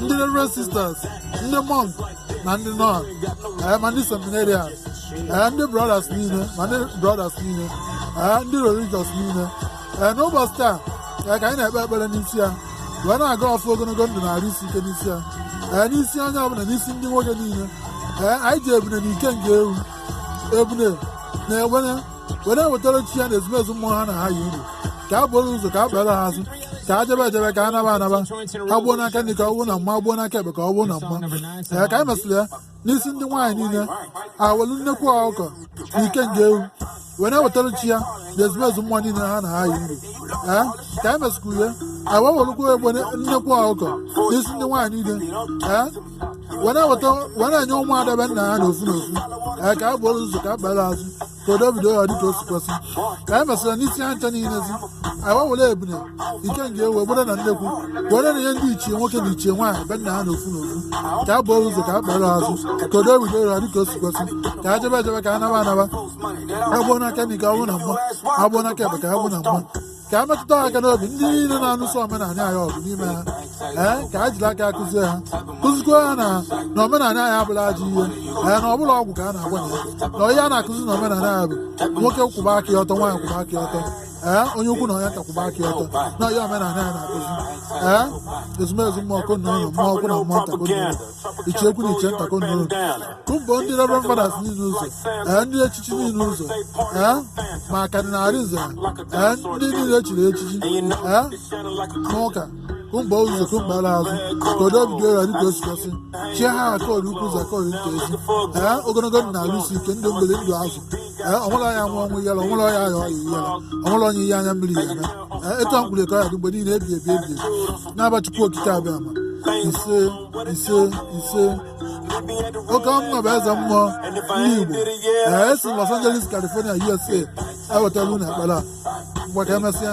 ndị reverend sisters ndị monk na ndị nun ee ma ndị seminarians ee ndị brothers niile ma ndị brothers niile ee ndị religious niile ee n'ụbọsị taa ee ka anyị na-ekpe ekpere n'isi ya wee na-aga ọfụ ogologo ndụ na arụ isi ike n'isi ya ee n'isi onye ọbụla n'isi ndị nwoke niile ee anyị ji ebune na ikenga ewu ebune na egbene wee na-ewetara chi ya na ezumezu mmụọ ha na ha yi uru ka a buru ụzọ ka a kpere ha azụ ka a jebe ejebe ka a naba anaba ka gbuo n'aka nri ka ọ bụrụ na mma gbuo n'aka ekpe ka ọ bụrụ na mma ee ka anyị mesịrị ya n'isi ndị nwaanyị niile ewelu nnekwu ọkụkọ na ikenga ewu wee na-ewetara chi ya na ezumezu mmụọ niile ha na ha yi uru ee ka anyị mesịkwuru ya awa welụkwa egbe nnekwu ọkụkọ n'isi ndị nwaanyị niile ee wee na-eweta wee na-enye ụmụ ada be nna ha n'ofu n'ofu ee ka a buru ụzọ ka a kpere azụ ka odo bido ya dịka o si kwesị ka anyị mesịrị n'isi ha ncha niile zi anyị wee were ebune ikenga ewu egbene na nnekwu wee na-enye ndị ichie nwoke na ichie nwaanyị be nna ha n'ofu n'ofu ka a buru ụzọ ka a kpere azụ ka odo bido ya dịka o si kwesị ka a jebe ejebe ka a naba anaba agbuo n'aka nri ka ọ bụrụ na mma agbuo n'aka ekpe ka ọ bụrụ na mma ka a metụta ha aka n'obi ndị niile na-anụso omenala anyị ọgụ n'ime ha ee ka a jiri aka kụzie ha kụzikwa ha na na omenala anyị abụrọ ajọ ihe ee na ọ bụrọ ọgwụ ka a na-agwọ na ya na ihe a na-akụzi na omenala ya bụ nwoke kwụba aka ya ọtọ nwaanyị kwụba aka ya ọtọ ee onye ukwu na onye nta kwụba aka ya ọtọ na ihe omenala ya na-akụzi ee ezumezu mmụọ ukwu na ụlọ mmụọ ukwu na mmụọ nta ichie ukwu na ichie nta ka unu tụmbọ ndị reverend fathers niile ụzọ ee ndị echichi niile ụzọ ee ma Cardinal Arinze ee ndị niile chiri echichi ee n'ụka kumba ụzọ kumba ala azụ ka odo bido ya dịka o si kwesị chie ha akọrọ ukwu ụzọ akọrọ nta ezi ee ogologo ndụ na arụ isi ike ndụ mmiri ndụ azụ ee ọnwụla ya nwa ọnwụ yala ọnwụla ya ya ọya yala ọnwụla onye ihe anya mmiri ya eme ee etu a mkpụrụ ekọ ya dị mgbe niile ebi ebi ebi n'afa Chukwu Okike Abịama ise ise ise ọka mmụọ bụ eze mmụọ ndị Igbo ee esi Los Angeles California USA ewetara unu ekpere a ngwa ka emesịa